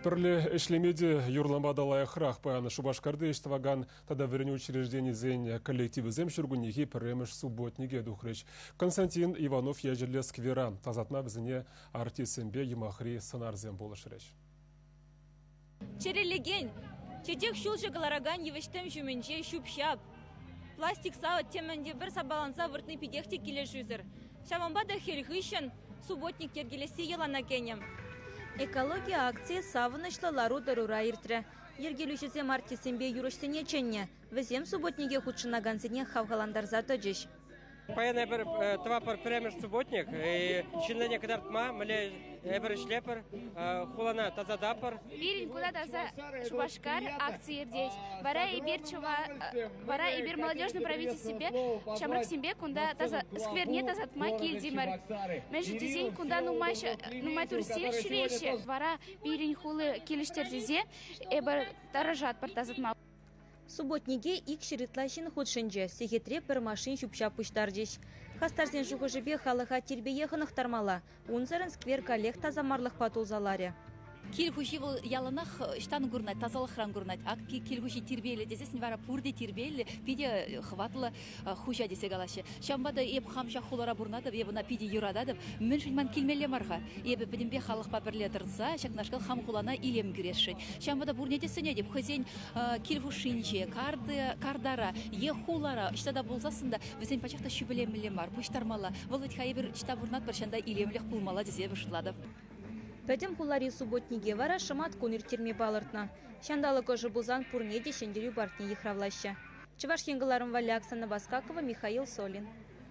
Пӗрле ӗҫлеме те юрлама та лайӑхрах паян Шупашкарти ӗҫ тӑвакан тата вӗренӳ учрежденийӗсен коллективӗсем ҫуркуннехи пӗрремӗш субботнике тухрӗҫ. Константин Иванов ячӗллӗ сквера, тасатма вӗсене артистсемпе юмахри сӑнарсем пулӑшрӗҫ. Чӗрӗлекен, чечек ҫулҫӑ кӑларакан йывӑҫ-тӗм ҫумӗнче ҫӳп-ҫап, пластик савӑт темӗн те пӗр сапаланса выртни питех те килӗшӳсӗр. Ҫавӑнпа та хӗл хыҫҫӑн субботник йӗркелесси йӑлана кӗнӗ. Экологи акцийӗ савӑнӑҫлӑ лару-тӑрура иртрӗ. Йӗркелӳҫӗсем артистсемпе юрӑҫсене чӗннӗ. Вӗсем субботнике хутшӑнакансене хавхалантарса тӑчӗҫ. Паян эпир тӑватпӑр пӗрремӗш субботник. Ҫыннине кӑтартма мӗнле эпир ӗҫлепӗр, хулана тасататпӑр. Пирӗн куна таса Шупашкар акци иртет. Вара эпир чӑва Вара эпир молодежный правительствипе ҫамрӑксемпе кунта таса, скверне тасатма килтӗмӗр. Мӗншӗн тесен кунта нумай, нумай туристсем ҫӳреҫҫӗ. Вара пирӗн хули килӗштерсе эпир тӑрӑшатпӑр тасатма. Субботнике икҫӗр ытла ҫын хутшӑнчӗ. Сехетре пӗр машин ҫӳп-ҫап пуҫтарчӗҫ. Хастарсен шухӑшӗпе халӑха тирпее хӑнӑхтармалла, Унсӑрӑн сквер каллех тасамарлӑхпа тулса ларӗ. Кил хуҫи вӑл яланах ӑҫтан курӑнать, тасалӑхран курӑнать. Ак кил хуҫи тирпейлӗ тесессӗн вара пурте тирпейлӗ, питӗ хӑватлӑ хуҫа тесе калаҫҫӗ. Ҫавӑнпа та эп хам ҫак хулара пурӑнатӑп, эп ӑна питӗ юрататӑп. Мӗншӗн ман килмелле мар-ха? Эпӗ пӗтӗмпех халӑхпа пӗрле тӑрса ҫакнашкал хам хулана илем кӳресшӗн. Ҫавӑнпа та пурне те сӗнетӗп хӑйсен кил хушшинче, картара е хулара ӑҫта та пулсассӑн та Вӗсен пачах та ҫӳпӗлемелле мар, пуҫтармалла. Вӑл вӗт-ха эпир ӑҫта пурӑнатпӑр ҫан та илемлӗх пулмалла тесе шутлатӑп. Пӗтӗм хулари субботнике вара шӑмат кун ирттерме палӑртнӑ. Ҫанталӑк ӑшӑ пулсан пурне те ҫӗнтерӳ паркне йыхравлаҫҫӗ. Чӑваш Ен кӑларӑм валли Оксана Баскакова, Михаил Солин.